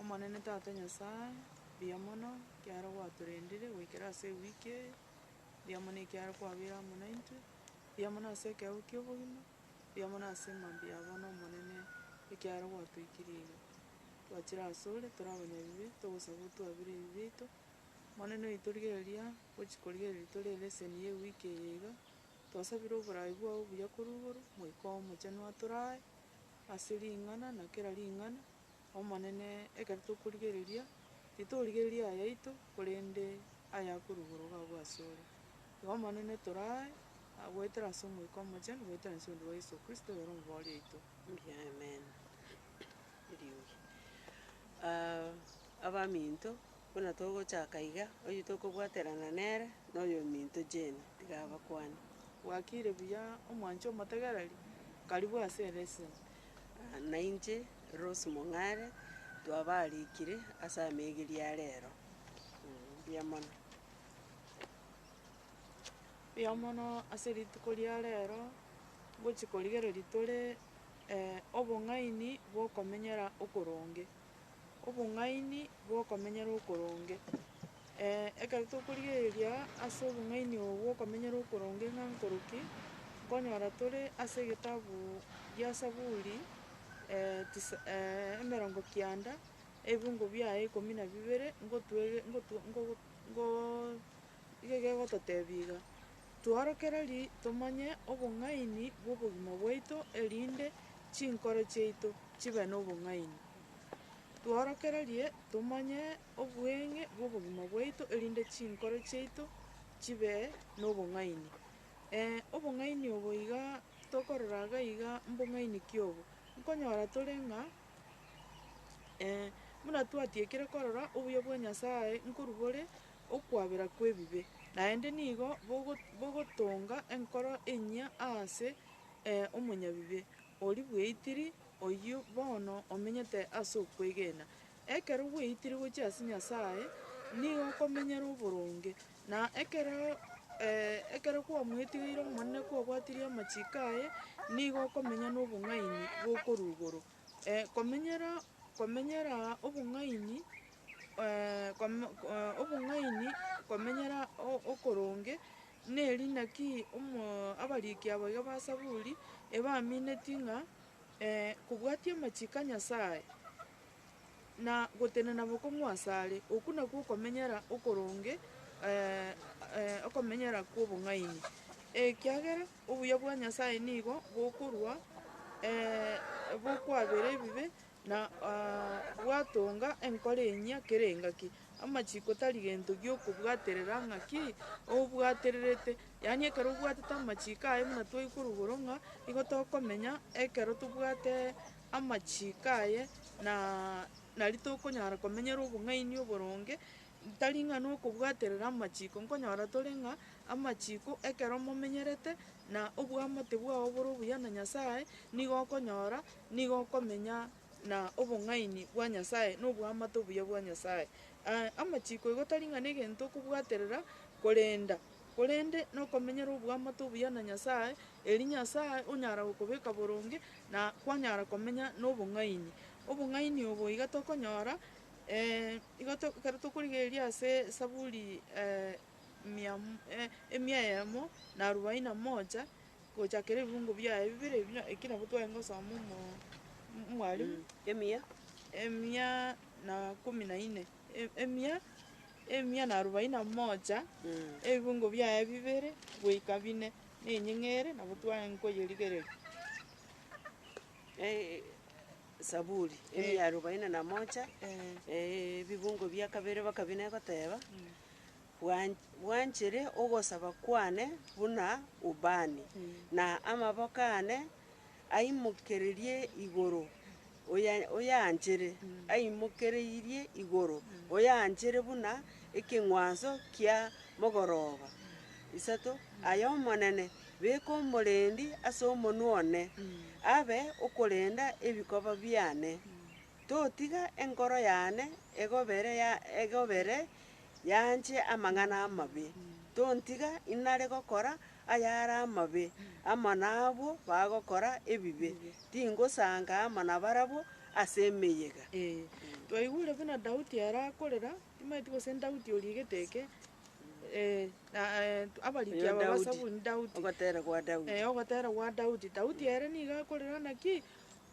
Omonene Tata Nyasae, mbuya mono ekiagera gwatorendire goikera ase ewiki eye, mbuya mono ekiagera kwabeire amo naintwe, mbuya mono ase ekeegwa ki'obogima, mbuya mono ase mambia ya bono Omonene, ekiagera gwatoikirie iga. Twachire asore tore abanyabibe, togosaba otwabere ebibe biaito, Omonene oitorigereria gochia korigereria tore eleseni ya ewiki eye iga, twasabire oborai bwao obuya korwa igoro, Moika oye Omochenu atorae. Ase ring'ana na kera ring'ana, Omonene, ekero tokorigereria, titorigereria ayaito, korende ayakorugorwa gabwo asore. Igo Omonene, toraae, goetera ase Omoika Omochenu, goetera inse onde bwa Yeso Kristo, oyore Omobori oito. Mbuya Amen. Eriogi. Aah, abaminto, Buna togochaka iga, oyio tokobwaterana nere noyominto Jane, tiga abakwane. Gwakire buya omwanche omotegereri, karibu ase ereseni. Nainche Rose Mong'are, twabaarikire ase amegiria a rero. Mbuya mono. Mbuya mono ase rituko ria rero, ngochi korigereria tore obong'aini bwokomenyera okoronge. obong'aini bw'okomenyera okoronge. Ee, ekero tokorigereria ase obong'aini obo bw'okomenyera okoronge ng'a nkoru ki, nkonyora tore ase egetabu gia Zaburi tisa emerongo kianda, ebingo biaye ikomi na bibere, ngotwege- ngotu- ngogo- ngooo. Eke kegototebia iga, Twarokereri tomanye obong'aini bw'obogima bwaito erinde chinkoro chiaito chibe nobong'aini. Twarokererie tomanye obweng'e bw'obogima bwaito erinde chinkoro chiaito chibe nobong'aini. Ee, obong'aini obo iga tokorora iga iga mbong'aini ki obo? Nkonyora tore ng'a buna twatiekire korora obuya bwa Nyasaye nkorwa bore okwabera kw'ebibe, naende nigo bogotonga enkoro enyia aase omonyabibe oria bweitiri, oyio bono omenyete ase okwegena. Ekero bweitire gochia ase Nyasae, nigo okomenyera oboronge, na ekero ekero kwamoetigeire Omonene kwabwatirie amachiko aye, nigo okomenya nobong'aini bokorwa igoro. komenyera komenyera obong'aini. obong'aini komenyera okoronge, neri naki abariki aba iga ba Zaburi ebaminetie ng'a kobwatia amachiko a Nyasae, na gotenena bokong'u asare, okwo nakwo okomenyera okoronge okomenyera kw'obong'aini, ekiagera obuya bwa Nyasae nigo bokorwa bokwabera ebibe, Na gwatonga enkoro enyia kere engaki, amachiko tari gento gi'okobwaterera ng'aki obwatererete, yaani ekero obwatete amachiko aye buna twaichi korugoro ng'a nigo tokomenya ekero tobwate amachiko aye na nari tokonyara komenyera obong'aini oboronge, tari ng'a nokobwaterera amachiko, nkonyora tore ng'a amachiko ekero momenyerete na obwamate bwao bore obuya na Nyasaye, nigo okonyora Nigo okomenya na obong'aini bwa Nyasae na oboamate obuya bwa Nyasae. Ee, amachiko igo tari ng'a negento okobwaterera korenda, korende nokomenyera oboamate obuya na Nyasae, erio Nyasae onyara gokobeka boronge na kwanyara komenya nobong'aini. Obong'aini obo iga tokonyora igo to- ekero tokorigereria ase Esaburi mia mo- emia eyemo na arubaini na moja. Gochakera ebiungo biaye bibere ebio, eki nabo tware gosoma omo Mwalimu. Emia. Emia na komi na ine, e- emia, emia na arobaini na moja, ebiungo biaye bibere goika bine, na enyeng'ere nabo tware nkoyerigereria. Eh, Saburi, emia Eh. arobaini na moja, Eh. eh, ebibungo bia kabere bakabina egoteba. Bwanchire ogosaba kwane buna ubani, na amaboko aane aimokereirie igoro, oyaanchire, aimokereirie igoro, oyaanchire buna ekeng'wanso kia mogoroba. Isato, Ay'Omonene, beka omorendi as'omonwa one, abe okorenda ebikoba biane, totiga enkoro yane egobere yaanche amang'ana amabe, tontiga inare gokora ayare amabe amo nabwo bagokora ebibe, tingosanka amo nabarabwo ase emeyega. Twaigure buna Daudi arakorera, timanyeti gose Daudi origete eke, na abariki Oyo aba ba Daudi, saburi Daudi, ogoteera gwa Daudi. ogotera gwa Daudi. Daudi ere nigo akorera ng'a ki?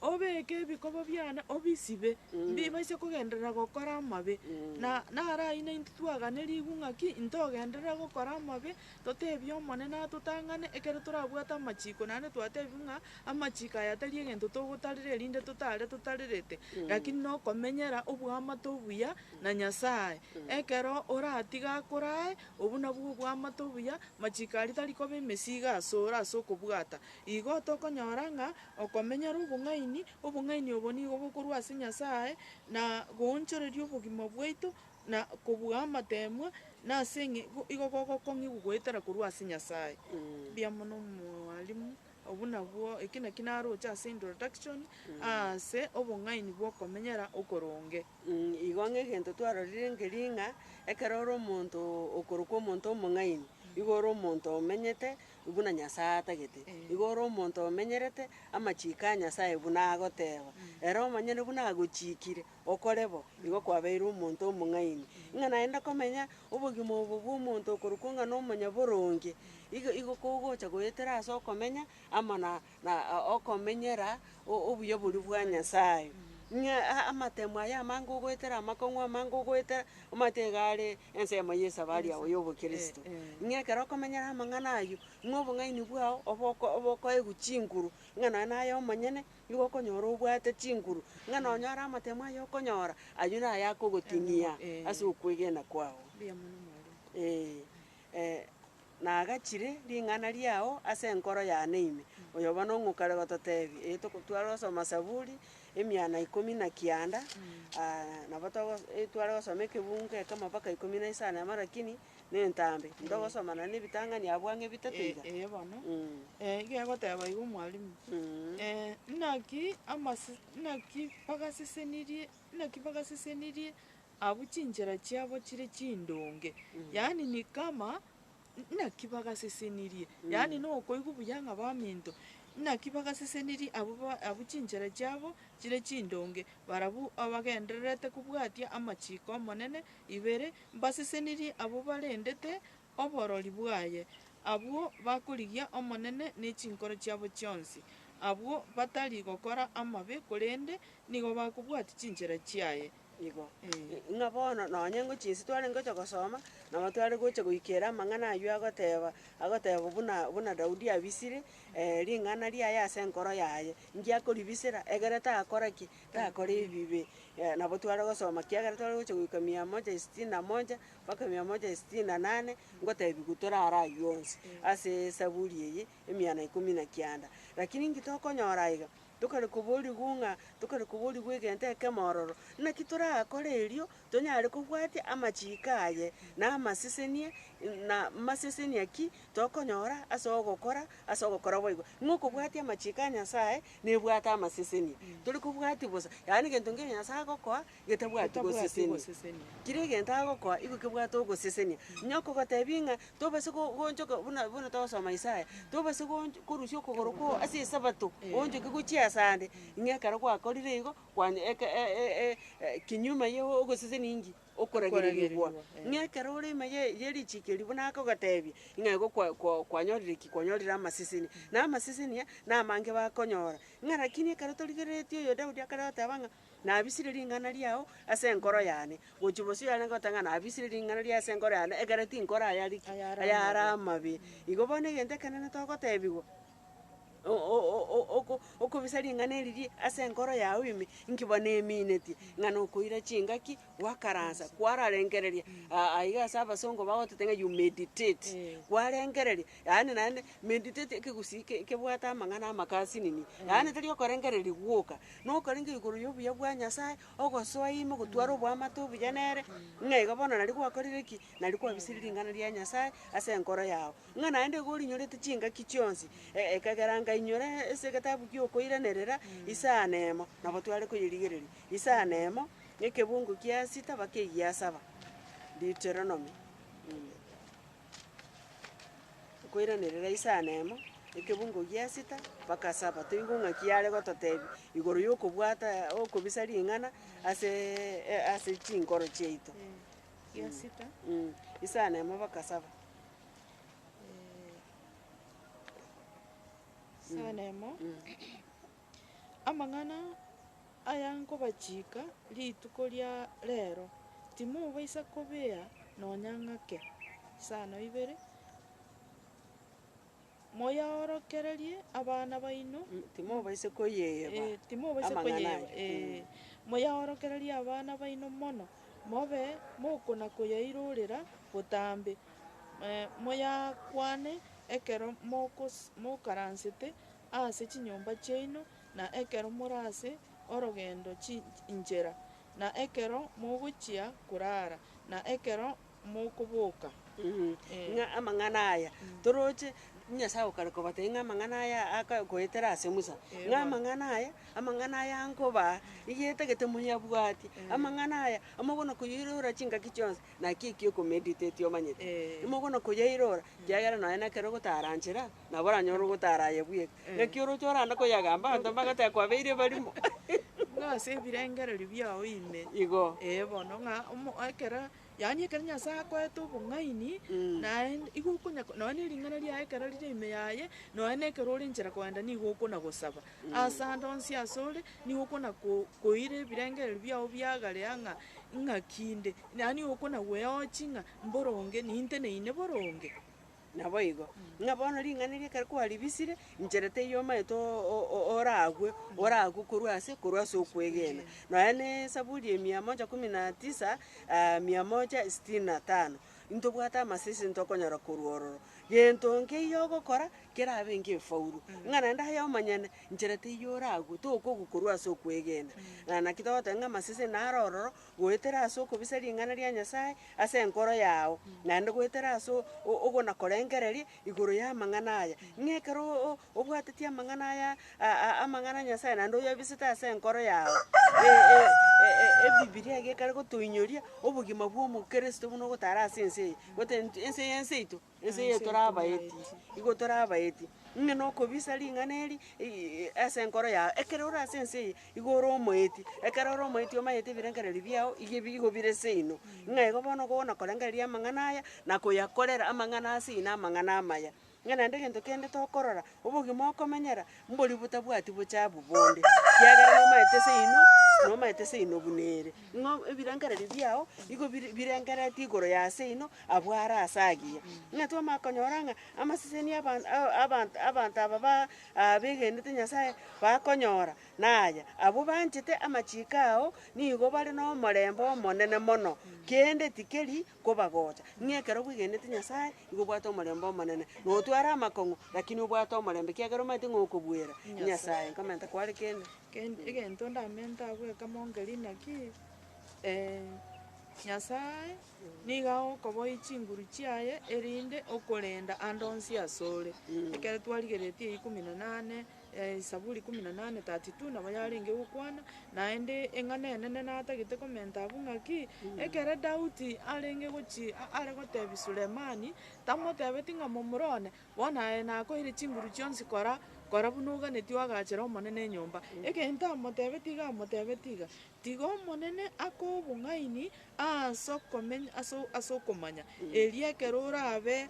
Obeeke ebikobo biane obisibe, mbibaisa kogenderera gokora amabe. Na naro aino intwe twagane rigwa ng'aki intogenderera gokora amabe, toteebie Omonene atotang'ane, ekero torabwate amachiko, naende twatebiwa ng'a amachiko aya tari egento togotarera erinde totaare totarerete, lakini nokomenyera oboamate obuya na Nyasae. Ekero oratiga akorae, obwo nabwo oboamate obuya, machiko aria tari koba emesigo asore ase okobwata, Igo tokonyora ng'a okomenyera obong'aini, obong'aini obo nigo bokorwa ase Nyasae, na goonchoreria obogima bwaito, na kobua amateemwa, na ase eng'e go- igo gogokong'igwa goetera korwa ase Nyasae. Mbuya mono mwalimu, obwo nabwo eki naki naroche ase introduction aase obong'aini bw'okomenyera okoronge. Mh, igo ng'a egento twarorire nkeri ng'a ekero ore omonto okorokwa omonto omong'aini, igo ore omonto omenyete, Buna Nyasae atagete, igo ore omonto omenyerete amachiiko a Nyasae buna agoteeba, ere omonyene buna agochiikire, Okore bo, igo kwabeire omonto omong'aini. Ng'a naende komenya obogima obo bw'omonto okorokwo ng'a nomonyaboronge, igo igo kogocha goetera ase okomenya amo na na okomenyera obuya boria bwa Nyasae, ng'a amatemo aya amange ogoetera, amakong'u amange ogoetera, omanyete iga are ensemo y'esabari yao y'obokristo. Ng'a ekero okomenyera amang'ana ayio, ng'a obong'aini bwao obe oko obe okoegwa chinguru, ng'a nonya naye omonyene nigo okonyora obwate chinguru, ng'a nonya ore amatemo aya okonyora, ayio naye akogoting'ia ase okwegena kwao. Ee. na agachire ring'ana riao ase enkoro yane ime, oyo bono ng'okare gototeebia, ee toko tware gosoma Saburi, emiana ikomi na kianda, nabo togo e tware gosoma ekebungo kere k'amabaka ikomi na isano y'amarakini, na entambe, ntogosoma naende ebitang'ani abwo ang'e bitato iga. Eye bono, eh iga egoteba iga omwalimu, naki amase naki bagasesenirie naki bagasesenirie. Abwo chinchera chiabo chire chindonge, yaani ni kama naki bagasesenirie, yaani nokoigwa buya ng'a baminto, naki bagasesenirie abwo ba- abwo chinchera chiabo chire chindonge, barabwo abagendererete kobwatia amachiiko 'Omonene ibere, mbasesenirie abwo barendete oborori bwaye, abwo bakorigia Omonene ne chinkoro chiabo chionsi, abwo batari gokora amabe, korende nigo bakobwatia chinchera chiaye. Igo, ng'a bono nonye ngochia inse tware ngocha gosoma, nabo tware gocha goikera amang'ana ayio agoteba, agoteba buna buna Daudi abisire ring'ana riaye ase enkoro yaye. Nki akoribisera? Egere takora ki? Takora ebibe. Nabo tware gosoma kiagera tware gocha goika mia moja isitini na moja, mpaka mia moja isitini na nane, ngotebiwa torare ayio onsi ase esaburi eye. emiana ikomi na kianda. Lakini inki tokonyora aiga? Tokare koborigwa ng'a tokare koborigwa egento ekemo ororo. Naki torakore erio tonyare kobwatia amachiiko aye, na amasesenia, na masesenia ki tokonyora ase ogokora ase ogokora boigo. Ng'a okobwatia amachiiko a Nyasae nebwate amasesenia. Tore kobwatia bosa, yaani egento nkeria Nyasae agokoa getabwati gosesenia. Kera egento agokoa igo kebwate ogosesenia. Onye okogotebia ng'a tobasa go- goonchoka buna buna togosoma Isaya, tobasa goonch korusia okogoro kwao ase esabato, oonchoke gochia asande, ng'a ekero gwakorire igo, kwany eke e- e- e- e kinyuoma ya ogosesenia inki? Okoragererigwa. Ng'a ekero ore ime ye- ye richiko erio buna akogotebia, ng'a igo kwa- kwa- kwanyorire ki? Kwanyorire amasesenia. Na amasesenia, namange bakonyora. Ng'a rakini ekero torigereretie oyo Daudi akare goteba ng'a. Nabisirie ring'ana riao ase enkoro yane, gochia bosio yarenge goteba ng'a nabisirie ring'ana riaye ase enkoro yane, ekero tinkorayari ki? ayare amabe. Igo bono egento ekenene togotebigwa, o- o- o- o- oko- okobisa ring'ana eriria ase enkoro yago ime, inki bono eminetie? Ng'a nokoira chingaki, gwakaransa, kwararengereria, a- aiga ase abasongo bagotete ng'a you meditate, kwarengereria, yaani naende mediteti ekegusii ke- kebwate amang'ana amaka ase nini, yaani tari okorengereria gwoka, na okorenge igoro y'obuya bwa Nyasaye, ogosoa ime gotware oboamate obuya nere, ng'a iga bono nari gwakorire ki? Nari kwabisirie ring'ana ria Nyasaye ase enkoro yao, ng'a naende iga orinyorete chingaki chionsi, e- ekegera nkainyora ase egetabu gi'okoiranerera isano emo, nabo tware koyerigereria, isano emo, na ekebungo kia sita mpaka egiasaba, Deuteronomy. Nkoiranerera isano emo, ekebungo gi'esita, mpaka saba, toigwe ng'a ki are gototebia igoro y'okobwata okobisa ring'ana aseee ase chinkoro chiaito. Gi'esita. Mh, isano emo mpaka saba. Isano emo. Amang'ana aya nkobachiika rituko ria reero, timobaisa kobea nonya ng'ake. Isano ibere, Moyaorokererie abana baino, Timobaisa koyeyeba eh, timobaisa amang'ana koyeyeba, aya. eh, moyaorokererie abana baino mono, mobe mokona-koyairorera botambe, eh, moyakwane ekero mokos- mokaransete ase chinyomba chiaino, na ekero more ase orogendo chinchera, na ekero mogochia korara, na ekero mokoboka. Ng'a amang'ana aya toroche, Nyasae okare kobatebia ng'a amang'ana aya aka goetera ase Musa, ng'a amang'ana aya, amang'ana aya nkobaa, nigo etagete moyabwatie, amang'ana aya amokona koyairora chingaki chionsi, naki ekio okomediteti omanyete, imokona koyairora, kiagera nonye nekero ogotara nchera, nabo oranyore ogotara aye bweka. Naki oroche orande koyagamba abanto mbagoteba kwabeire barimo. Buna ase ebirengererio biao ime. Igo. Ee bono ng'a omo ekero, yaani ekero Nyasae akoete obong'aini, naende igo okonya nonya ne ring'ana riaye ekero rire ime yaye, nonya na ekero ore nchera kogenda nigo okona gosaba. Ase ande onsi ase ore, nigo okona ko- koira ebirengererio biao biagare aa ng'a ng'aki inde, yaani okona gweochi ng'a mboro onge, ninte neine boro onge. Naboigo, ng'a bono ring'ana erio ekero kwaribisire, inchera teiyo omaete o- o- oragwe, oragwe korwa ase, korwa ase okwegena. Nonya na esaburi ya mia moja kumi na tisa, mia moja sitini na tano, intobwate amasese ntokonyora korwa ororo. Gento nkeiyo ogokora, kerabe nkefaulu, ng'a naende aye omonyene, inchera teiyo oragwe, tokogwa korwa ase okwegena. Na naki togoteba ng'a amasese naro ororo, goetera ase okobisa ring'ana ria Nyasae ase enkoro yao, naende goetera ase o- ogonakorengereria igoro y'amang'ana aya. Ng'a ekero o- o- obwateti amang'ana aya a- a- amang'ana a Nyasae naende oyabisete ase enkoro yao, e- e- e- Ebibilia eye ekare gotoinyoria obogima bw'omokristo buna ogotara ase ense eye, gotentu ense eye enseito. Ense eye torabaeti, igo torabaeti, ng'a nokobisa ring'ana eri ii- ase enkoro yao. Ekero ore ase ense eye, igo ore omoeti, ekero ore omoeti omanyete ebirengererio biao iga ebi igo bire seino, ng'a igo bono okogona korengereria amang'ana aya, na koyakorera amang'ana ase eye na amang'ana amaya. Ng'a naende egento kende tokorora, obogima okomenyera, Mbori botabwati bochabu bonde, kiagera nomaete seino, nomaete seino buna ere. Ng'a ebirengererio biao igo biri birengeretie igoro ya seino, abwo are ase agiya. Ng'a twamanya konyora ng'a amaseseni aban- a- abant- abanto aba ba begenete Nyasaye bakonyora, na aya, abwo banchete amachiko ao nigo bare nomorembe omonene mono, kende tikeri kobagocha, ng'a ekero bwegenete Nyasae, nigo obwate omorembe omonene, na otware amakong'u, lakini obwate omorembe, ekiagera omanyete ng'a okobuera Nyasae, nkomenta kware kende. Gen- egento ndamente abwo eke mongerie naki, Nyasae nigo agokoboyia chinguru chiaye, erinde okorenda ande onsi asore. Ekero twarigeretie eye ikomi na nane, Esaburi ikomi na nane, 32 nabo yarenge gokwana, naende eng'ana enene natagete komenta abwo ng'a ki, ekero Daudi arenge gochia a- are gotebia Sulemani, tamotebeti ng'a momura one, bono aye nakoeire chinguru chionsi kora, kora buna oganetie oagachere Omonene enyomba. Egento amotebeti iga amotebeti iga, Tiga Omonene ake obong'aini aase okomeny ase o- ase okomanya, erio ekero orabe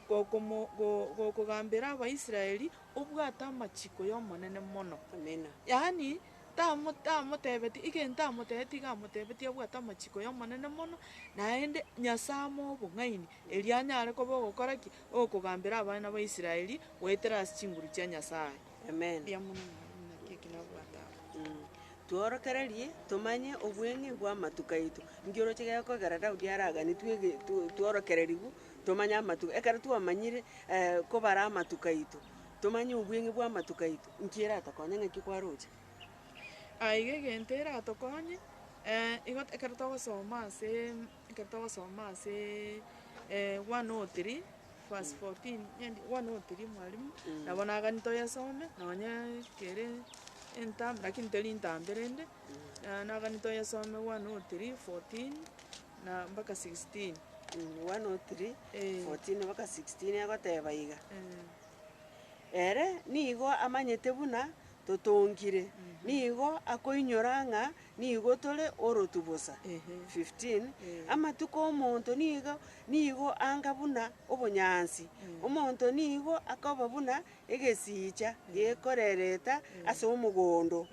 gokomo go- gokogambera Abaisraeli, obwate amachiko y'Omonene mono. Amina. Yaani, tamo, tamotebetie, egento amotebetie iga amotebetie abwate amachiko y'Omonene mono, naende Nyasae amoe obong'aini, erio anyare koba ogokora ki? Ogokogambera abana ba Israeli goetera ase chinguru chia Nyasae. Amen. Mbuya mono mwarimu, naki eki nabwate aba. Tworokererie tomanye obweng'e bw'amatuko aito. Nki oroche gekogera Daudi araganetwe ege tu- tworokererigwe Tomanye amatuko, ekero twamanyire kobara amatuko aito, tomanye obweng'e bw'amatuko aito, nki eratokonye ng'aki kwaroche? Aiga egento eratokonye, igo ekero togosoma asee ekero togosoma asee one o three verse fourteen endi one o three mwalimu, nabo nagani toyesome, nonye kere enta lakini teri ntambe rende, nagani toyesome one o three fourteen. na mpaka 16. 103, 14 mpaka 16 egoteba iga, Ere nigo amanyete buna totongire, nigo akoinyora ng'a nigo tore orotu bosa. 15, Amatuko 'omonto nigo nigo anga buna obonyansi, omonto nigo akoba buna egesiicha gekorereta ase omogondo,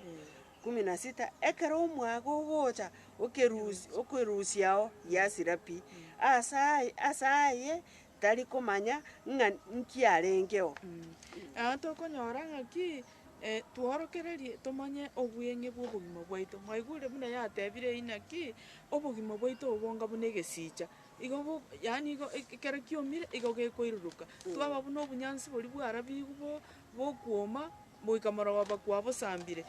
Ikumu na sita, ekero omwaga ogocha okerusia okerusia ao giasira pi, ase aye ase aye tari komanya ng'a nki arenge oo. Aa tokonyora ng'aki eh, tworokererie tomanye obweng'e bw'obogima bwaito. Mwaigure buna yatebire eyio naki, obogima bwaito obo bonga buna egesicha, igo bo yaani igo eke ekero kiomire igo gekoiruruka. Twaba buna obonyansi boria bwarabigwe bo bokwoma, goika morogoba kwabosambire,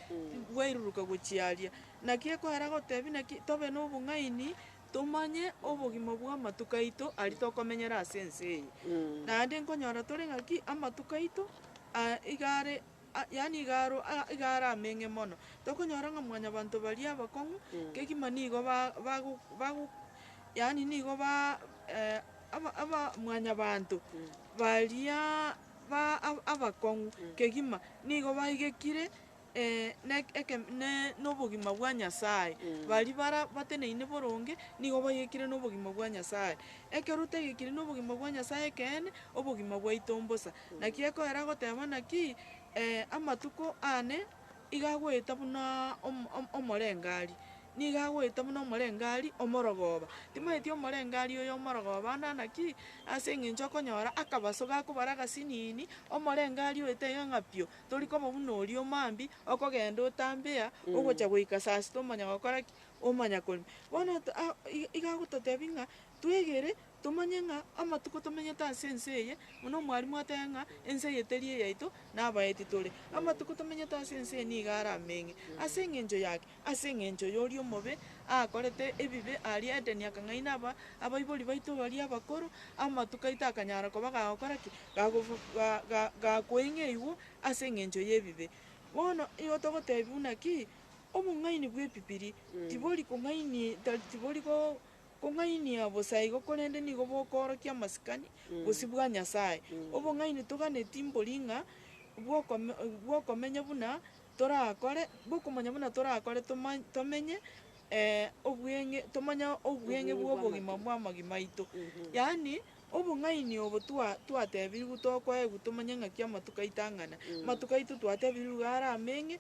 bwairuruka gochia aria. Naki ekoera gotebi naki? Tobe nobong'aini, tomanye obogima bw'amatuko aito aria tokomenyera ase ense eye. Naende nkonyora tore ng'aki? Amatuko aito aa iga are a- yaani iga aro a- iga are ameng'e mono. Tokonyora ng'a mwanyabanto baria abakong'u, kegima nigo ba- bago bago yaani nigo ba aba- aba mwanyabanto bariaa. ba abakong'u kegima nigo baigekire nobogima bwa Nyasaye, baria bara bateneine boronge nigo baigekire nobogima bwa Nyasaye. Ekero otaigekiri nobogima bwa Nyasaye ekeene, obogima bwaito mbosa. Naki ekoera goteba naki amatuko ane. iga agoeta buna omo- om- omorengari, nigo agoeta buna omorengari omorogoba. Timanyeti omorengari oyo omorogoba ande ana ki? Ase eng'encho okonyora akabaso gakobare agasinini, omorengari oyo taiga ng'a pio, tori koba buna oria omambia, okogenda otambea, ogocha goika saa sita omanya gokora ki? Omanya korema. Bono to- a- i- iga agototebi ng'a, twegere. Tomanye ng'a amatuko tomenyete ase ense eye, buna omwarimu ateba ng'a ense eye teri eyaito, na abaeti tore. Amatuko tomenyete ase ense eye nigo are ameng'e ase engencho yake, ase engencho yoria omobe akorete ebibe aria Edeni akang'aina aba abaibori baito baria abakoro, amatuko aito akanyara koba gagokora ki? Gagofu ga- ga- gakweng'e igwo ase engencho y'ebibe. Bono igo togotebi buna ki? Obong'aini bw'epipiri tibori kong'ainie tari tibori go Kong'ainia bosa igo korende nigo bokoorokia amasikani bosio bwa Nyasae. Obong'aini toganeti mbori ng'a bw'okome bw'okomenya buna torakore bw'okomanya buna torakore toma tomenye obweng'e tomanye obweng'e bw'obogima bw'amagima aito, yaani Obong'aini obo twatebirwe tokoegwa tomanye ng'aki amatuko aito ang'ana. Amatuko aito twatebirwe iga are ameng'e,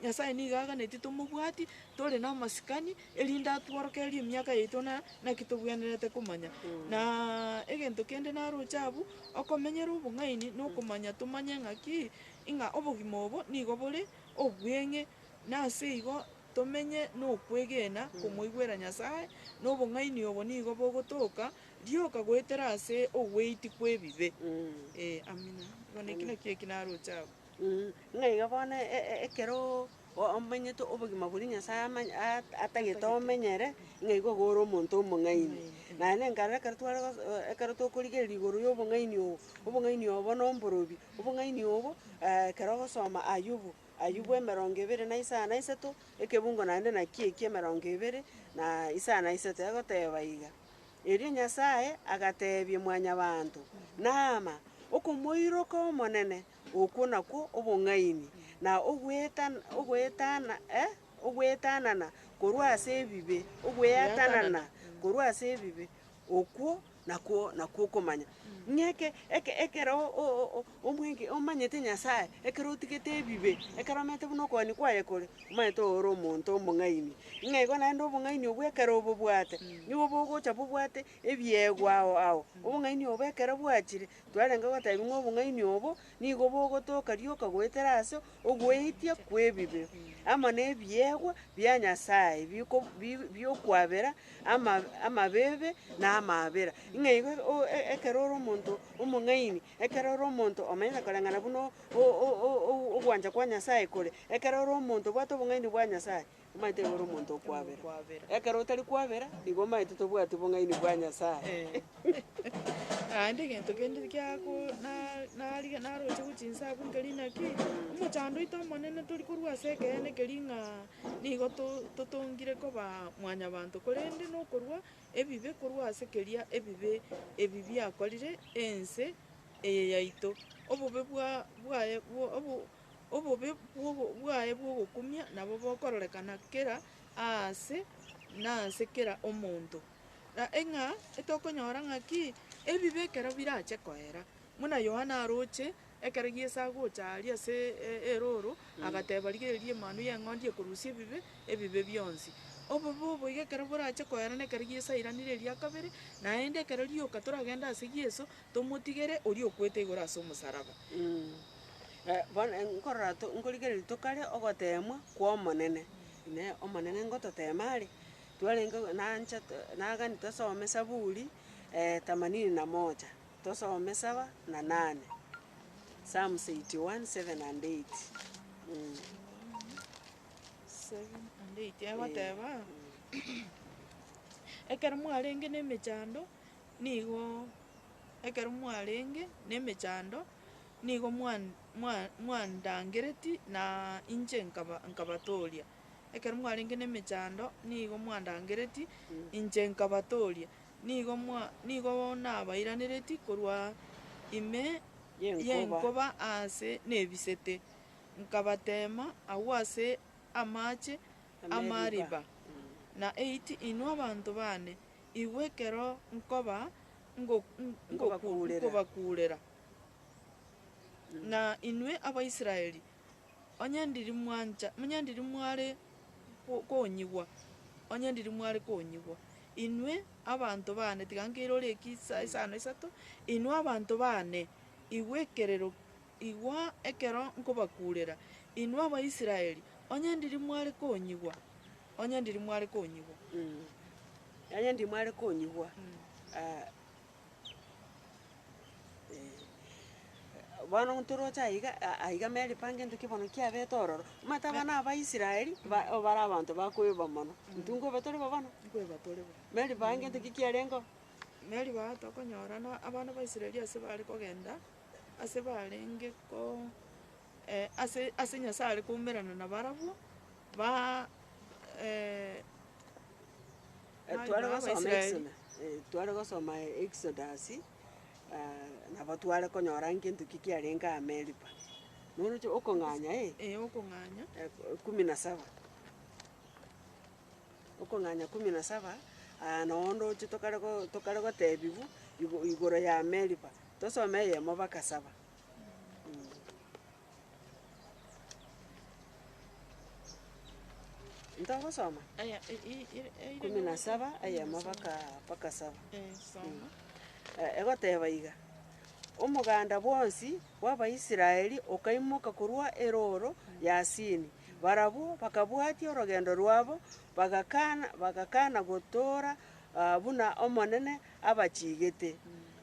Nyasae nigo aganetie tomobwati, tore namasikani, erinde atworokererie emiaka yaito na naki togwenerete komanya. Na egento kende naroche abwo, okomenyera obong'aini na okomanya tomanye ng'aki, ng'a obogima obo nigo bore obweng'e, na ase igo Tomenye nokwegena komoigwera Nyasae, na obong'aini obo nigo bogotoka rioka goetera ase ogweiti kw'ebibe. Ee, amina. Igo neki nakio eki naroche abwo. Ng'a iga bono e- e- ekero o- omenyete obogima boria Nyasae amany- at- atagete omenyere, ng'a igo igo ore omonto omong'aini. Naye nenkarora ekero tware gos- o- ekero tokorigereria igoro y'obong'aini obo, obong'aini obo bono mborobio, obong'aini obo ekero ogosoma Ayubu. Ayubu emerongo ebere na isano na isato, ekebungo naende nakio ekio emerongo ebere na isano na isato, egoteba iga, Erio Nyasae agateebia Mwanyabaanto, Naama, okomoiroka Omonene, okwo nakwo obong'aini, na ogwetan ogweetana eh ogweetanana korwa ase ebibe, ogweatanana korwa ase ebibe, okwo Nakwo nakwo okomanya, ng'a eke eke ekero o- o- o- o- omwege omanyete Nyasaye, ekero otigete ebibe, ekero omanyete buna okoani kwaye kore, omanyete ore omonto omong'aini. Ng'a igo naende obong'aini obwo ekero obobwate, nigo bogocha bobwate ebiegwa ao ao, obong'aini obo ekero bwachire, Twarenge goteebia ng'a obong'aini obo nigo bogotoka rioka goetera ase ogweitia kw'ebibe, amo nebiegwa bia Nyasae biko biokwabera ama amabibe na amaabera. Ng'a igo o- e- ekero ore omonto omong'aini, ekero ore omonto omanyete koreng'ana buna o- o- o- ogwancha kwa Nyasae kore, ekero ore omonto obwate obong'aini bwa Nyasae. omaete igoro omonto okwabera. Ekero otari kwabera, nigo omaete tobwati obong'aini bwa Nyasae. Naende egento kende giako na narigia narochigwe chinsa abwo nkeri naki, omochando oito omonene tori korwa ase ekeene keria ng'a nigo to- totongire koba mwanyabanto, korende nokorwa ebibe korwa ase keria ebibe ebi biakorire ense eye yaito. Obobe bwa bwaye bwo obo. Obobe bw'ogo- bwaye bw'ogokumia nabo bokororekana kera aase na ase kera omonto, na ng'a etokonyora ng'aki ebibe ekero birache koera. Buna Yohana aroche, ekero Yeso agocha aria ase e- erooro, agateba, Rigereria Emanu y'Eng'ondi ekorusia ebibe, ebibe bionsi. Obobe obo iga ekero borache koera nekero Yeso airanire eria kabere, naende ekero rioka toragende ase Yeso, tomotigere oria okwete igoro as'omosaraba. Bono nkorora to nkorigereria tokare ogoteemwa kw'Omonene. Inee! Omonene ngototeema are? Twarenge nancha nagani tosome Saburi themanini na moja, tosome saba na nane, Psalms eighty one, seven and eight, eeh. Seven and eight, egoteba, Ekero mwarenge nemechando. Nigo ekero mwarenge nemechando, nigo mwan- mwa- mwandangereti na inche nkaba- nkabatooria, ekero mwarenge nemechando nigo mwandangereti inche nkabatooria, nigo mwa nigo nabairanereti korwa ime Yenkoba. yenkoba aase nebisete, nkabateema agwo ase amache amariba, na eiti inwe abanto baane, Igwe ekero nkoba ngobakuurera, na inwe Abaisraeli, onye ndiri mware konyigwa, onye ndiri mware konyigwa, inwe abanto baane, tiga nkeire ore isano isato, inwe abanto baane, igwe ekerero, igwa ekero nkobakuurera, inwe Abaisraeli, onye ndiri mware konyigwa. Onye ndiri mware konyigwa. Onye ndiri mware konyigwa, ah, eh, bono ntoroche aiga, a- aiga Meri pange ntoki bono kiabete ororo, omanyete abana aba Abaisraeli, ba- bare abanto bakoeba mono, intwe nkoeba tore bo bono? Nkoeba tore bo. Meri pange ntoki kiarenge oo. Meri baa tokonyorana abana ba Israeli ase bare kogenda, ase barenge ko ase ase Nyasae are koumerana nabarabwo. Ba- e- e- Mari tware gosoma Abaisraeli. Exoda- e- tware gosoma Exodasi, nabo tware konyora ng'a gento ki kiarenge aa Meriba. Noroche okong'anya eh? Ee, okong'anya. e- kumi na saba. Okong'anya kumi na saba, aya noo ndoche tokare go- tokare gotebiwu igo- igoro ya Meriba. Tosome eyemo baka saba. Ntogosoma? Aya, i- i- ire- eire Kumi na nogosoma. saba, Kumi na eyemo saba. baka baka saba. Eh, soma. Eh, egoteba iga, Omoganda bwonsi bw'Abaisraeli okaimoka korwa erooro ya Sini. Barabwo bakabwatia orogendo rwabo, bagakana bagakana gotoora ah, buna Omonene abachigete.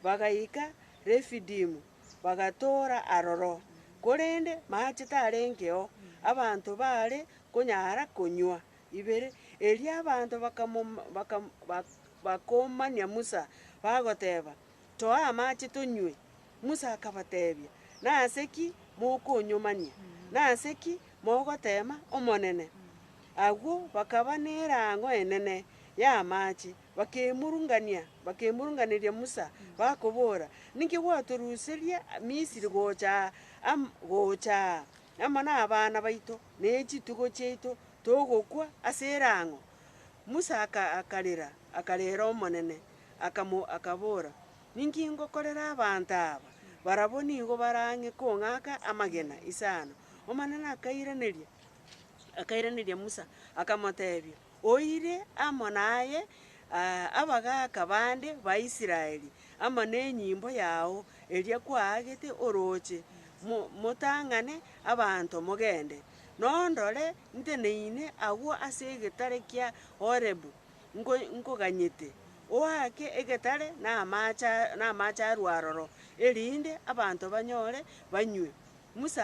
Bagaika Refidimu, bagatoora aroro, korende maache tarengeo, abanto baare konyara konywa ibere. Erio abanto bakamoma bakam bak bakomania Musa, bagoteba, Toa amache tonywe. Musa akabatebia, Nase ki mokonyomania? Nase ki mogoteema Omonene? Agwo bakaba nerango enene y'amache. Bakemurungania, bakemurunganeria Musa, bakobora, Ninki gwatoruseria Misiri gocha aa, am, gocha aa, amo nabana baito, ne chitugo chiaito, togokwa ase erang'o? Musa aka, akarera, akarera Omonene, akamo, akabora, Ninki ngokorera abanto aba? Barabwo nigo barang'e kong'aka amagena isano. Omonene akairaneria, akairaneria Musa, akamotebia. Oire amo naye abagaaka bande ba Israeli, amo nenyimbo yao eria kwaagete orooche, motang'ane abanto mogende. Nondore, nteneine agwo ase egetare kia Horebu, nkoganyete, oake egetare namaache arwo aroro, erinde abanto banyore banywe. Musa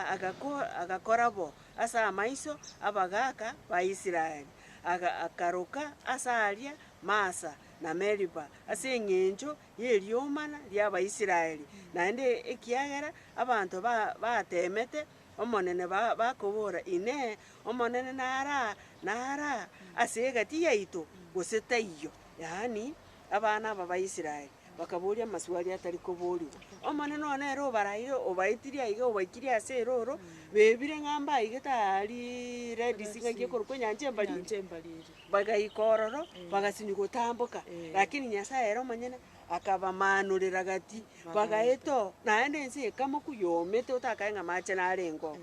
agakora bo ase amaiso 'abagaaka ba Israeli, akaroka ase aria Masa na Meriba ase engencho y'eriomana ri'Abaisraeli, naende ekiagera abanto bateemete Omonene bakobora, Inee! Omonene nara ase egati yaito, gose taiyo? yaani. abana aba ba Israeli bakabooria amaswali atari koboorigwa. Omonene oo nere obaraeire, obaetirie aiga, obaikirie ase erooro, bebire ng'a mbaigete aa ri- Red Sea, ng'aki ekorokwa Enyancha Embari, Enyancha Embari ere. bagaika ororo, bagasinywa gotamboka. Lakini Nyasae ere omonyene akabamaanurera gati, bagaeta oo, naende ense ekamoku yomete otakae ng'a amache narengeo.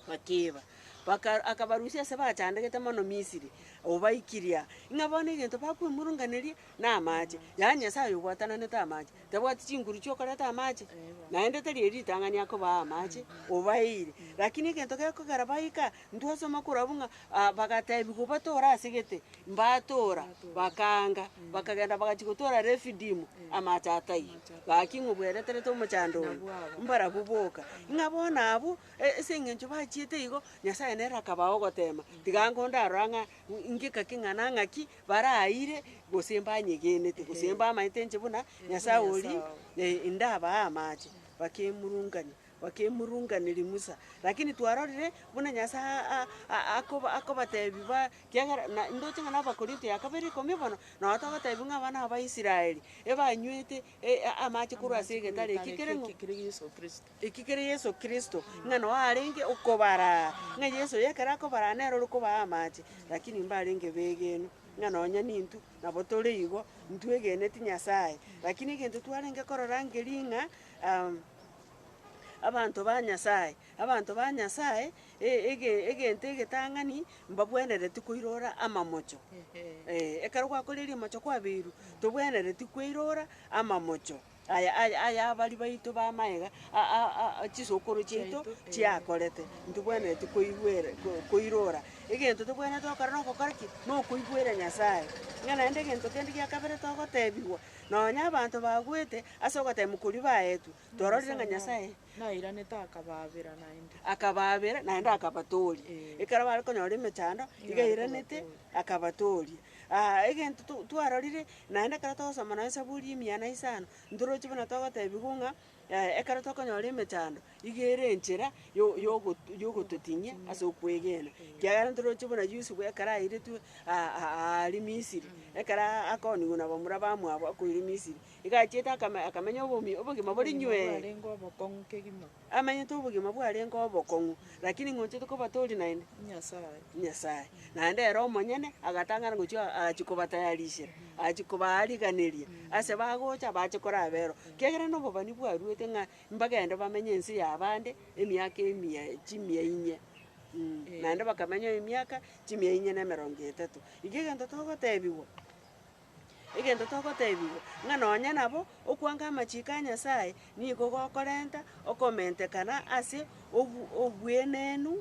Bakiiba, baka akabarusia ase bachandegete mono Misiri, obaikiria ng'a bono egento bakwemurunganeria namache. Yaani Nyasaye oyo obwatananete amache, tabwati chinguru chiokoreta amache? Naende tari eri ritang'ani akobaa amache, obaeire. Rakini egento gekogera baika, ntwasoma korwa abwo ng'a ah bagatebiwa, obatore ase gete. Mbatoora, bakaanga, bakagenda bagachia gotoora Refidimu, amache ataiyo. Gaki ng'o bwereterete omochando oyo? Mbarabwo boka. Ng'a bono abwo, e- ase eng'encho bachiete igo, Nyasae nere akabaa ogoteema. Tiga ngo ndarora ng'a ngika ki ng'a na ng'aki baraayire, gose mbanyegenete, gose mbamanyete inche buna Nyasae oria, e- indabaa amache, bakemurungania. bakemurunganeria Musa, lakini twarorire buna Nyasae a- a- a- akoba- akobatebi ba kiagera na ndoche ng'a n'Abakorinto ya kabere ikomi bono, nao togotebi ng'a abana aba Israeli ebanywete e- a- amache korwa ase egetare eki kere ng'o eki kere Yeso Kristo, ng'a nao arenge okobaraa, ng'a Yeso oyo ekero akobaraa nere ore kobaa amache, lakini mbarenge begenu, ng'a nonya nintwe nabo tore igo, ntwegeneti Nyasae. Lakini egento twarenge korora ngering'a. Abanto ba Nyasae, abanto ba Nyasae, e- ege- egento egetang'ani mbabwenereti koirora amamocho. Ee, ekero gwakorire rimocho kwabeirwe, tobwenereti kweirora amamocho aya aya ayabari baito b'amaye iga, a- a- a chisokoro chiaito chiakorete, ntibwenereti koigwera ko- koirora. Egento tobwenerete gokora nogokora ki? Nokoigwera Nyasae. Ng'a naende egento kende gia kabere togotebiwa, Nonya abanto bagwete ase ogoteba mokorio baetwe, twarorire ng'a Nyasae nairanete akabaabera naende. akabaabera naende akabatooria. Ekero bare konyora emechando, iga airanete akabatooria. Aa egento to- twarorire, naende ekero togosoma nonye Zaburi emiya na isano, ntoroche buna togotebiwa ng'a. Ekero tokonyora emechando, iga ere enchera yo- yogo yogototing'ia ase okwegena, ekiagera ntoroche buna Yusufu ekero airetwe aa- aa- aaria Misiri, ekero aa- akoonigwa na bamura bamwabo akoirwa Misiri, iga achiete akame- akamenya obomi obogima bore nywee, bwarenge obokong'u kegima. amenyete obogima bwarenge obokong'u, rakini ng'ochete koba tori naende. Nyasaye. Nyasaye. Naende ere omonyene agatang'ana gochia agachia kobatayarishera, agachia kobaariganeria ase bagocha bache koraba ero, kiagera nobobani bwaruete ng'a mbagende bamenye ense y'abande emiaka emia chimia inye mh. Naende bakamenywa emiaka chimia inye na emerongo etato. Iga egento togotebiwa, egento togotebiwa, ng'a nonye nabo okwanka amachiko a Nyasaye nigo gokorenta okomentekana ase obu- obuenenu.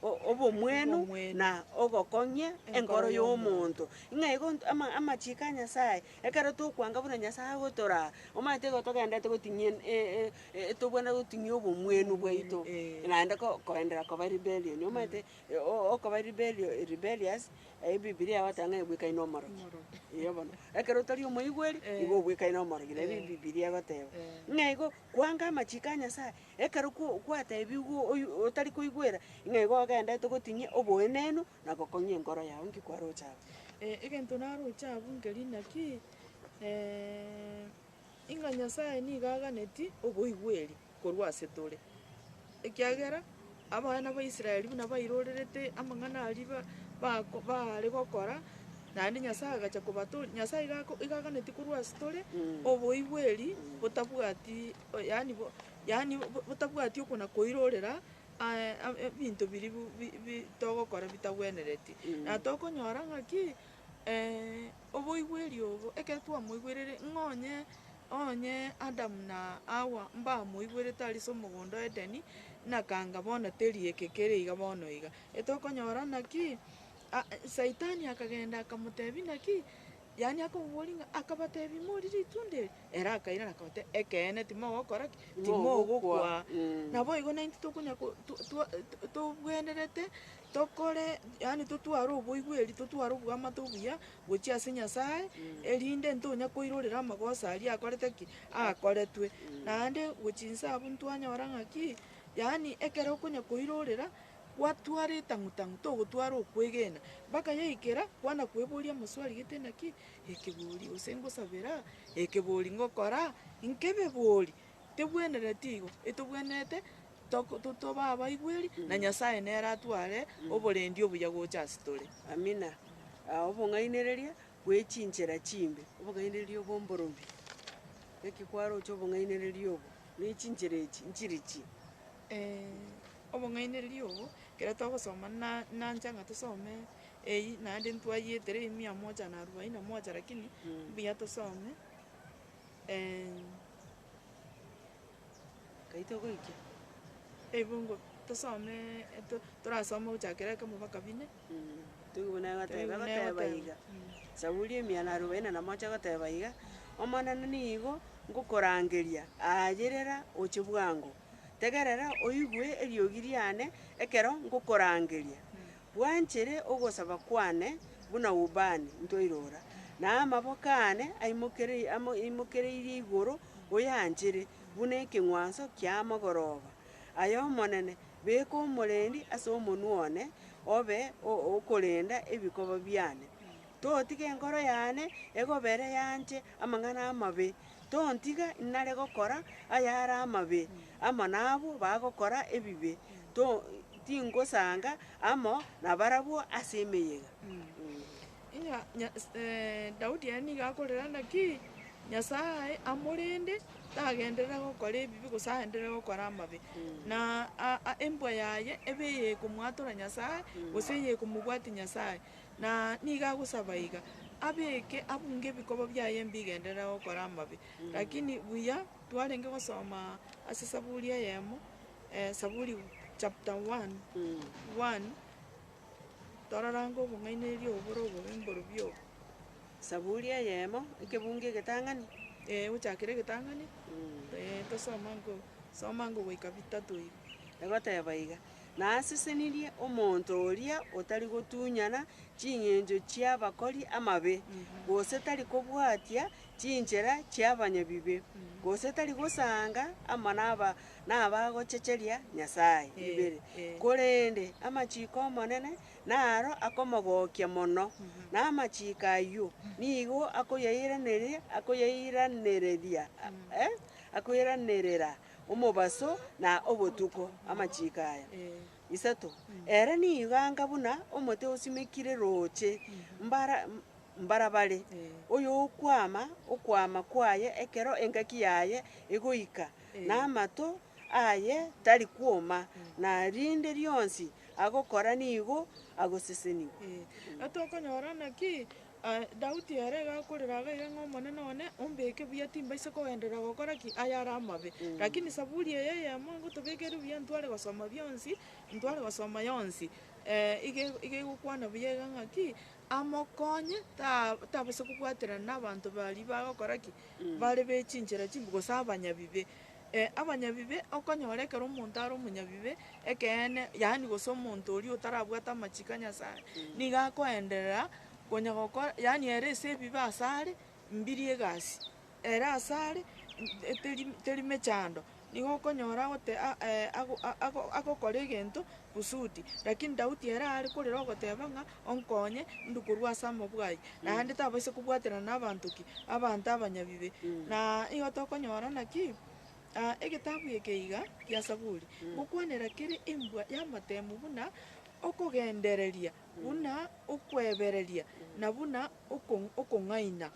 o- obomwenu na ogokong'ia enkoro y'omonto. Ng'a igo nto- ama- amachiiko a Nyasae, ekero tokwanga buna Nyasae agotoraa, omanyete igo togendererete goting'ia en- e- e- e- tobwenerete goting'ia obomwenu bwaito, naende ko- koenderera koba rebellion, omanyete o- okoba rebellion rebellious, eyio bibilia egoteba ng'a ebwekaine omorogi, eyo bono. Ekero otari omoigweri, igo obwekaine omorogi, nabio ebi bibilia egoteba. Ng'a igo, kwanga amachiiko a Nyasae. Ekero gwateebigwe oyio otari koigwera, ng'a igo ogendete goting'ia oboenenu na gokong'ia enkoro yao, inki kwaroche abwo? Egento naroche abwo nkeri naki, ing'a Nyasae nigo aganeti oboigweri korwa ase tore, ekiagera abana ba Israeli buna bairorerete amang'ana aria ba- bako baare gokora, naende Nyasae agacha kobato Nyasae iga ako iga aganeti korwa ase tore oboigweri botabwati. yaani bo, yaani bo botabwati okona koirorera ae ab- e ebinto biria bu- bi- bi togokora bitagwenereti. Na tokonyora ng'aki oboigweri obo, ekero twamoigwerire ng'a onye, onye adamu na hawa mbamoigwerete aria ase omogondo o edeni, nakanga bono teri eke kere iga bono iga. Etokonyora naki, a- saitani akagenda akamotebia naki. Yaani akaboboria ng'a, akabatebia, Imori ritunda eri? Ere akairana akabatebia, Ekeene, timogokora ki? Timogokwa. Naboigo naintwe tokonya ko- to- to- to- tobwenerete tokore, yaani totware oboigweri, totware oboamate obuya gochia ase Nyasae, erinde ntonya koirorera amagoso aria akorete ki? Akoretwe. Naende gochia inse abwo ntwanyora ng'aki, yaani ekero okonya koirorera, Gwatwara etang'u-tang'u togotwara okwegena, bakayaikera, kwana kweboria amasuali aya, gete naki? Ekebori, gose ngosabera? Ekebori, ngokora? Nkebebori, tebwenereti igo, etobwenerete toko totoba abaigweri, na Nyasaye nere atware oborendi obuya gocha ase tore. Amina. Obong'ainereria bwe chinchera chimbe, obong'ainereria obw'omborobi, gaki kwaroche obong'ainereria obo, ne chinchera echi nchiri chi. Eh, obong'ainereria obo, ekero togosoma na nancha ng'a tosome eyio, naende ntwayetera eyio mia moja na arubaini na moja lakini mbuya tosome. Nkai togoikia ebungo tosome eto- torasome ogochakera ekemo mpaka bine. Teigu buna egoteba, Teigu buna egoteba egoteba. iga, Zaburi emia na arobaini na moja egoteba iga, Omonene nigo ngokorangeria, aa yerera oche bwango, tegerera oigwe eriogi riane ekero ngokorangeria. Bwanchere ogosaba kwane buna ubani ntoirora, na amaboko aane aimokereirie amo aimokereirie igoro oyanchere buna ekeng'wanso ki'amagoroba ay'Omonene. Beka omorendi ase omonwa one, obe o- okorenda ebikoba biane. Totiga enkoro yane egobere yanche amang'ana amabe, tontiga inare gokora ayare amabe amo nabwo bagokora ebibe, to tingosanga amo nabarabwo ase emeyega. Ng'a Nya- s- eh, Daudi ere nigo akorera naki Nyasae amorende, tagenderere gokora ebibe gose aenderere gokora amabe. Na a- a- embwa yaye ebe eye ekomwatora Nyasae, gose eye ekomobwatia Nyasae. Na nigo agosaba iga, abeke abunge ebikoba biaye mbigenderere gokora amabe. Lakini buya twarenge gosoma ase Saburi eyemo, Saburi chapter one, one, torarange obong'ainereria obo bore obobe mborobio obo. Saburi eyemo, ekebunge egetang'ani. Ee, gochakera egetang'ani, ee, tosoma ngo, soma ngo goika bitato iga. Egoteba iga, nasesenirie omonto oria otari gotunyana chingencho chi'abakori amabe, gose tari kobwatia chinchera chi'abanyabibe, gose tari gosaanga amo naba- nabagochecheria Nyasae. Ibere. Korende amachiko ’Omonene naro akomogokia mono, na amachiko ayio nigo akoyairaneria, akoyairanereria, eh, akoiranerera. omobaso na obotuko amachiiko aya isato, ere nigo anga buna omote osimekire rooche mbara mbarabare, oyokwama okwama kwaye ekero engaki yaye egoika, na amato aye tari kwoma, na rinde rionsi agokora nigo agosesenigwa. Tokonyora naki? Daudi ere iga akorera iga iga ng'a, Omonene one, ombeke buya timbaisa kogenderera gokora ki? ayare amabe. Lakini Zaburi eye eyemo ngotobekeire buya ntware gosoma bionsi, ntware gosoma yonsi. iga iga egokwana buya iga ng'a ki? Amokonye ta- tabasa kobwaterana na abanto baria bagokora ki? bare be chinchera chimbe, gose abanyabibe. Abanyabibe, okonyora ekero omonto are omonyabibe ekeene, yaani gose omonto oria otarabwate amachiko a Nyasae, nigo akoenderera konya gokora, yaani ere ase ebibe ase are mbirie egasi, ere ase are teri teri mechando, nigo okonyora agote ago- a- a- agokora egento kusudi. Lakini Daudi ere aare korera ogoteba ng'a. onkonye, inde korwa ase amabuga ayio, naende tabaisa kobwaterana nabaanto ki? Abanto abanyabibe. Na igo tokonyora naki, egetabu eke iga kia Saburi, gokwanera kere embwa y'amatemu buna okogendereria, buna okwebereria, na buna oko- okong'aina.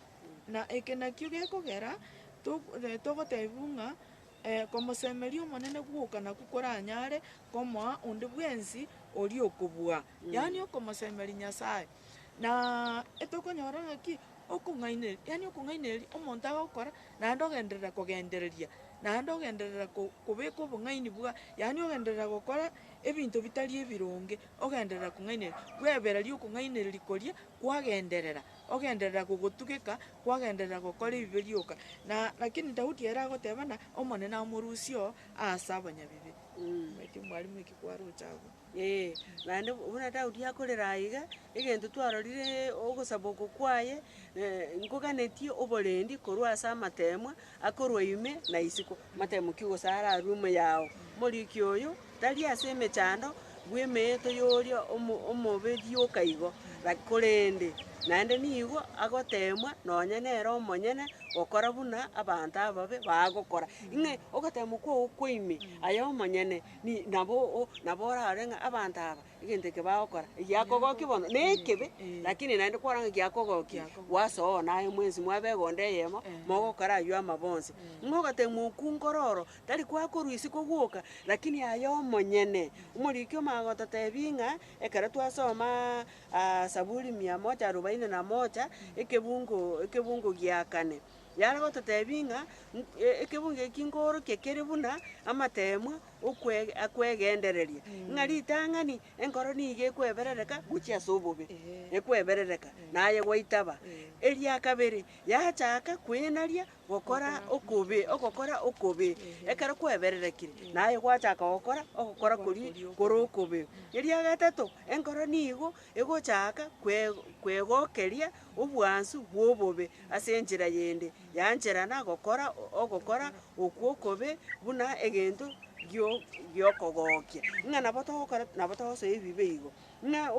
Na eke nakio gekogera to- togotebiwa ng'a. Komosemeria Omonene gwoka nakwo koranyare komoa onde bwensi oria okobua, yaani okomosemeria Nyasae. Na etokonyora ng'aki okong'ainereria, yaani okong'ainereria omonto agokora, naende ogenderera kogendereria, naende ogenderera ko- kobeka obong'aini bwa, yaani ogenderera gokora ebinto bitari ebironge, ogenderera kong'ainereria, bwebereri okong'ainereria koria kwagenderera. Ogenderera gogotugeka, kwagenderera gokora ebibe rioka. Na, lakini Daudi ere agotebana, Omonene amorusie oo aase abanyabibe. Naki mwarimu eki kwaroche agwo. Ee, naende buna Daudi akorera aiga, egento twarorire ogosaba oko kwaye, eh, nkoganetie oborendi korwa ase amateemwa, Akorwa ime na isiko, matemokie gose ararue ime yao. Morikia oyo tari ase emechando bw'emeeto y'oria omobe rioka igo, korende naende nigo agoteemwa nonya nere omonyene gokora buna abanto ababe bagokora. Ng'ai? Ogoteemwa kwao kwa ime aye omonyene, nabo orare ng'a abanto aba Egento eke bagokora, egiakogokia bono, nekebe, lakini naende kwarora ng'a giakogokia, gwasoa oo naye mwensi mwabe egonda eyemo, mogokora ayio amabo onsi. Ng'a ogatebia mokungore oro, tari kwakorwa isiko gwoka, lakini aye omonyene. Omoriki omo agototebia ng'a, ekero twasomaa Saburi mia moja arubaini na moja, ekebungo ekebungo gia kane, yare gototebia ng'a, ekebungo eki nkoorokia kere buna amateemwa okwe- akwegendereria, ng'a ritang'ani enkoro nigo ekweberereka gochia ase obobe, ekweberereka, naye gwaitaba. Eria kabere, yachaaka kwinaria gokora okobe, ogokora okobe. Ekero kwebererekire, naye gwachaaka gokora ogokora koria kore okobe. Eria gatato, enkoro nigo Egochaaka kwegokeria obwansu bw'obobe ase enchera yende yancherana gokora ogokora okwo okobe buna egento gi'okogokia. Ng'a nabo togokora nabo togosoa ebibe igo. Ng'a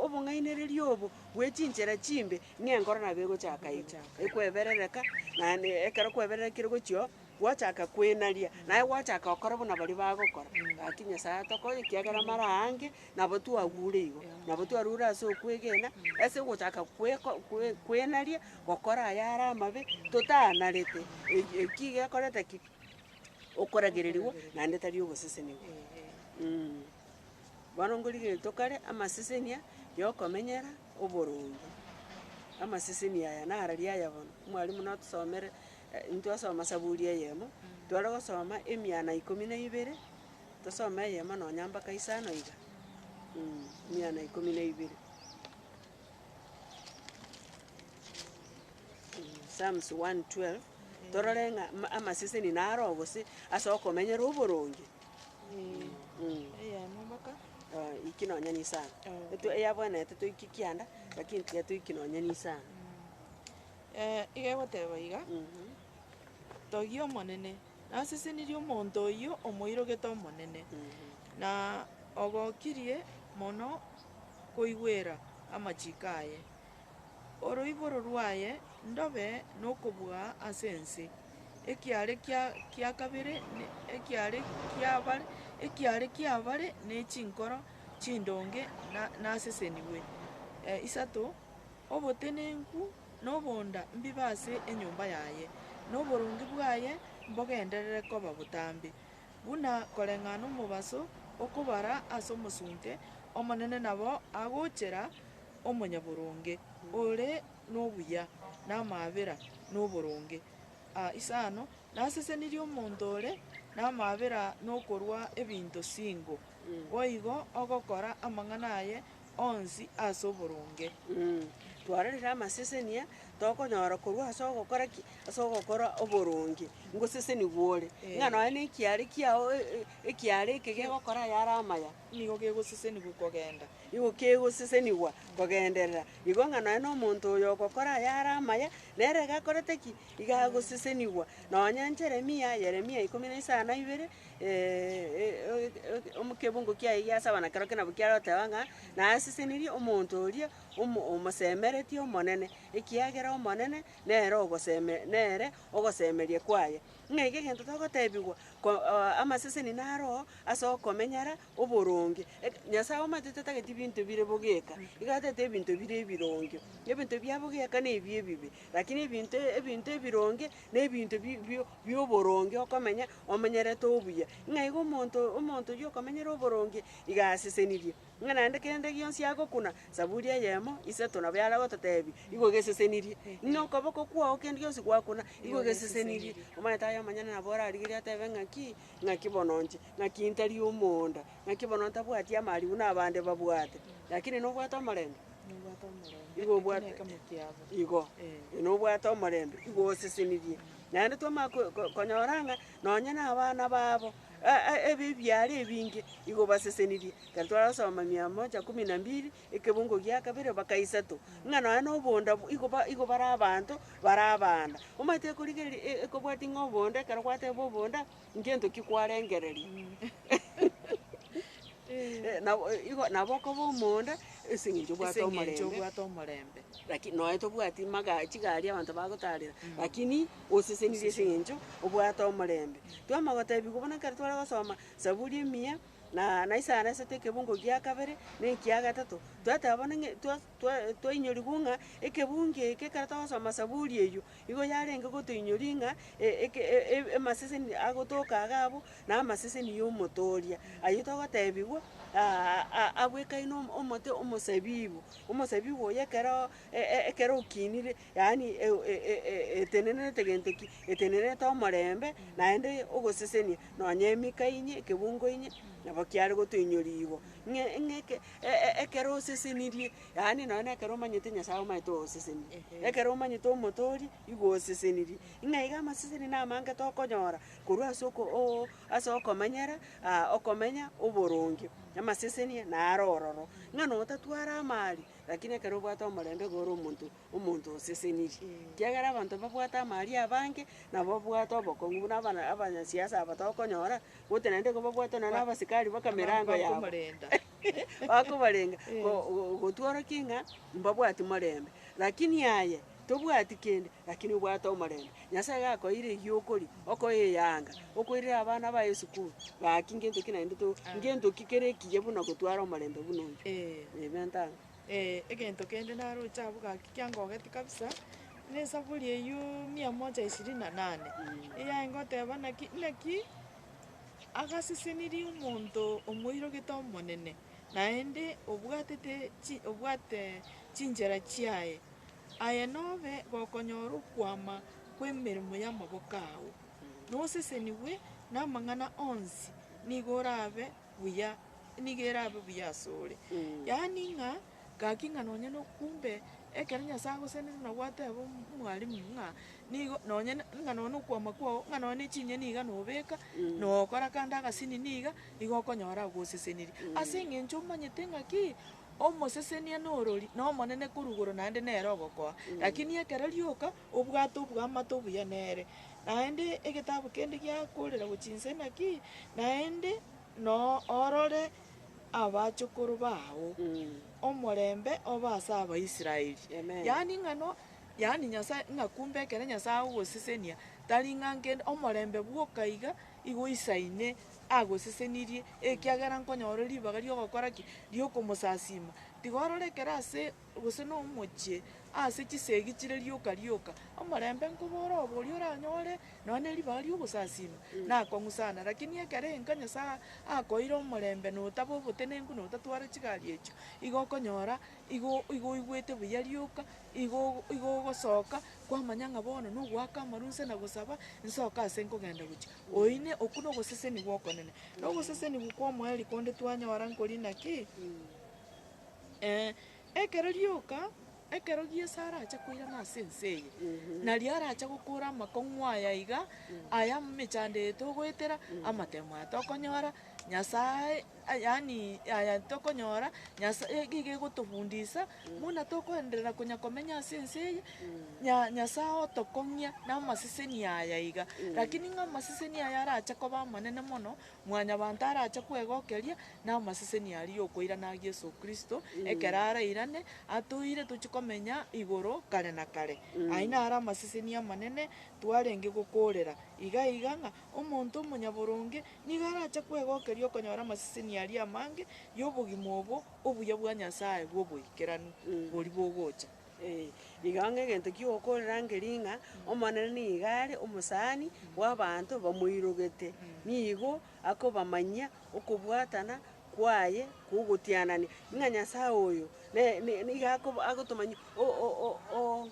obong'ainereria obo bwe chinchera chimbe ng'enkoro nabo egochaaka igo, ekweberereka, naende ekero kwebererekire gochia oo. Gwachaka kwenaria, naye gwachaka gokora buna baria bagokora, gaki Nyasae atokonye, ekiagera mara aange nabo twagure igo, nabo twarure ase okwegena, ase ogochaka kweko kwe kwenaria, gokora ayare amabe, totaanarete, eki eki gekorete ki? Okoragererigwa naende tari ogosesenigwa. Mh. Bono nkorigeretie kare, amasesenia yokomenyera oboronge, amaseseni aya nararia aya bono, omwarimu notosomere Intwasoma Saburi eyemo, tware gosoma emiana ikomi na ibere, tosome eyemo nonya mpaka isano iga, mm emiana ikomi na ibere. Psalms one twelve, torore ng'a ma- amaseseni naro gose ase okomenyera oboronge. Mm. Eyemo mpaka Ah, iyiki nonya na isano. Etwe- eyabwenerete toiki kianda, lakini tiga toiki nonya na isano. iga egoteba iga, Togia Omonene, nasesenirie omonto oyio omoirogete Omonene, na ogokirie mono koigwera amachiko aye. Oroiboro rwaye ndobe nokobua ase ense, ekiare kia kia kabere ne ekiare kiabare ekiare kiabare ne chinkoro chindonge na nasesenigwe. Isato. Obotenenku na obonda mbibe ase enyomba yaye, na oboronge bwaye mbogenderere koba botambe, buna koreng'ana omobaso okobara ase omosunte, Omonene nabo agochera omonyaboronge ore nobuya, na amaabera noboronge. A isano, Nasesenirie omonto ore namaabera nokorua ebinto singo, boigo ogokora amang'ana aye onsi ase oboronge. Twarorire amasesenia tokonyora korwa ase ogokora ki? Ase ogokora oboronge. Ngoseseni bwore, ng'a nonya na ekiare kiao ekiare eke gegokora ayare amaya, nigo kegosesenigwa kogenda, nigo kegosesenigwa kogenderera igo ng'a nonya na omonto oyo ogokora ayare amaya, nere iga akorete ki? Iga agosesenigwa. Nonya Jeremia, Yeremia ikomi na isano na ibere, ekebungo kiaye giasaba na kerokio nabo kiaroteba ng'a, Nasesenirie omonto oria omo- omosemeretie Omonene, ekiagera Omonene nere ogoseme nere ogosemeria kwaye. Ng'a iga egento togotebigwa ko- o- amaseseni naroo ase okomenyara oboronge. Eke- Nyasae omanyete tatagete ebinto bire bogeka, iga atagete ebinto bire ebironge. Ebinto bia bogeka na ebi ebibe, rakini ebinto ebinto ebironge, na ebinto bi- bi- bi'oboronge okomenya omenyerete obuya, ng'a igo omonto omonto oyio okomenyera oboronge iga asesenirie, ng'a naende kende gionsi agokuna saburi eyemo, isato nabo yare gototeebia, igo gesesenirie. Ng'a okoboko kwao kende gionsi gwakuna, igo gesesenirie. Omanyete aye omonyene nabo orarigerie ateebe ng'aki, ng'aki bono nche, ng'aki ntari omonda, ng'aki bono ntabwati amarigu na abande babwate, rakini nobwate omorembe? Igo obwate, igo, nobwate omorembe, igo osesenirie. Naende twamanya ko- ko- konyora ng'a nonye na abana babo, e- e- ebe ebiara ebinge igo basesenirie. Ekero twarasoma Miamoja kumi na mbili, ekebungo gia kabere mpaka isato, ng'a nonye na obonda bu- igo ba- igo bare abanto bare abana. Omanyete ekorigereria e- ekobwati ng'a obonda ekero gwateba obonda. ngento ki kwarengereria? Eh, nabo eh, igo, nabo okoba omonda ase eng'encho obwate ase eng'encho omorembe. obwate omorembe Lakini noe tobwati maga- chigari abanto bagotarera, lakini osesenirie ase eng'encho obwate omorembe. Twama gotebigwa buna ekero tware gosoma Saburi emiya, na na Isaya narisete ekebungo gia kabere, na ekia gatato, twateba bono ng'e- twa- twa- twainyorigwa ng'a ekebungo eke ekero togosoma Saburi eyio, Igo yarenge gotoinyoria ng'a amaseseni agotoka iga abwo namaseseni y'omotooria, ayio togotebigwa abwekaine omote omosabibu, omosabibu oye ekero ekero okinire, yaani etenenerete gento ki? Etenenerete omorembe, naende ogosesenia nonya emika inye, ekebungo inye, nabo kiare gotoinyoria igo. Ng'e ng'e eke ekero osesenirie Yaani, nonya nekero omanyete Nyasae omanyete ogoseseniri, ekero omanyete Omotoori igo oseseniri. Ng'a iga amaseseni namange tokonyora korwa ase oko oo ase okomanyera aa okomenya oboronge. Amaseseni naro ororo, ng'a notatwara amaari, rakini ekero obwate omorembe igo ore omonto omonto oseseniri. Ekiagera abanto babwate amaari abange, nabo obwate obokong'u buna abana abanyasiasa aba tokonyora, gose naende igo babwate nonya na abasikari baka mirango yabo. bakobarenga gotworokia ng'a mbabwati morembe. Lakini aye tobwati kende, lakini obwate omorembe. Nyasae iga akoeire egiokoria, okoe eyanga, okoirere abana baye esukuru, gaki ngento ki naende to ngento ki kere ekiya buna gotwara omorembe buna oyio. Amen tano. egento kende naroche abwo gaki kiangogeti kabisa, ne esaburi eyio mia moja ishirini na nane, eyare goteba naki naki agasesenirie omonto omoirogete Omonene, naende obwatete obwate chinchera chiaye, aye nobe gokonyora okwama kw'emeremo y'amaboko ao, nosesenigwe namang'ana onsi, nigo orabe buya, nigo erabe buya asore. Yaani ng'a, gaki ng'a nonye no kumbe, ekero Nyasaye agosenenetie nabo ateba omo- omwalimu ng'a nigo nonye na- ng'a nonye na okwama kwao, ng'a nonye na echinyeni iga nobeka, nokora kande agasini niga, igo okonyora agosesenirie. Ase eng'encho omanyete ng'a ki, omosesenia na orori, na omonene korwa igoro naende nere ogokoa. Lakini ekero rioka. Obwato bw'amato buya nere, naende egetabu kende giakoorera gochia inse inaki, naende noorore abachokoro bao. Omorembe obe ase Abaisraeli. Amen. Yaani ng'ano, yaani Nyasae ng'a kumbe ekero Nyasae agosesenia, tari ng'a nkende, omorembe bwoka iga igo isaine agosesenirie, ekiagera nkonyora ribaga ri'ogokora ki? Ri'okomosasiima. Tiga orore ekero ase gose nomochie, ase chisegi chire rioka rioka, omorembe nkobora obo oria oranyore nonya ne ribaga ri'ogosasima, nakong'usana. Rakini ekero enka Nyasae akoeire omorembe, na otaba obotenenku, na otatwara chigari echio, igo okonyora igo igo oigwete buya rioka, igo ogo igo ogosoka kwamanya ng'a bono nogoaka amaru inse na gosaba, nsoke ase nkogenda gochia. Oine, okwo na ogosesenigwa okonene. Na ogosesenigwa kwa omoerio konde twanyora nkori naki? Ee, ekero rioka, ekero Yeso arache koirana ase ense eye, nario arache gokora amakong'u aya iga, aya emechando eye togoetera, amatemo aya tokonyora, Nyasae, yaani aya tokonyora, Nyasa iga iga egotofundisa, buna tokoenderera konya komenya ase ense eye, Nya- Nyasae otokong'ia namaseseni aya iga. Lakini ng'a amaseseni aya arache koba amanene mono, Mwanyabanto arache kwegokeria namaseseni aria y'okoirana a Yeso Kristo ekero arairane atoire tochie komenya igoro kare na kare. Ayio naro amaseseni amanene twarenge gokoorera, iga iga ng'a omonto omonyaboronge nigo arache kwegokeria okonyora amaseseni aria amange y'obogima obo obuya bwa Nyasae bw'oboikeranu boria bogocha. Ee, nigo ang'e egento ki'ogokorera nkeria ng'a Omonene nigo are omosani bw'abaanto bamoirogete, nigo akobamanyia okobwatana kwaye kw'ogotianania, ng'a Nyasae oyo ne ne nigo ako agotomanyia o- o- o- o-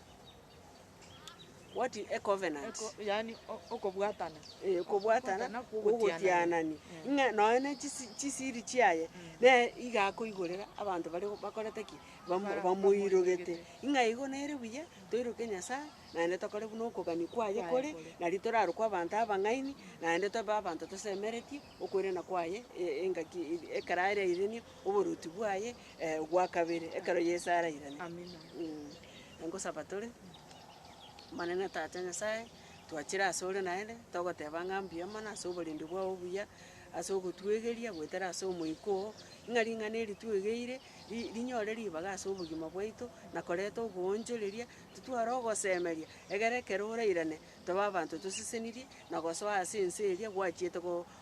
what is a covenant? Eko yaani o- okobwatana. Ee, okobwatana Okobwatana kw'ogotianania. kw'ogotianania, ng'a nonya ne chisi chisiri chiaye, nere iga akoigorera abanto baria bakorete ki? bamo- bamoirogete, ng'a igo nere buya, toiroke Nyasae, naende tokore buna okogania kwaye kore, nari torarokwe abanto abang'aini, naende tobe abanto tosemeretie okoirana kwaye e- engaki eri ekero arairania oboruoti bwaye gwa kabere, ekero Yeso arairane. Mh, ngosaba tore, Omonene Tata Nyasae, twachire asore naende, togoteba ng'a mbuya mono ase oborindi bwao obuya, ase ogotwegeria goetera ase omoika oo, ng'a ring'ana eri twegeire, rinyore ribaga ase obogima bwaito, na koreta oboonchoreria, titware ogosemeria, egere ekero orairane tobe abanto tosesenirie, na gosoa ase ense eria gwachiete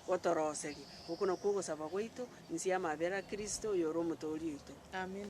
gotoroseria. Oko nakwo ogosaba gwaito, inse y'amabera a Kristo, oyore Omotoori oito. Amina.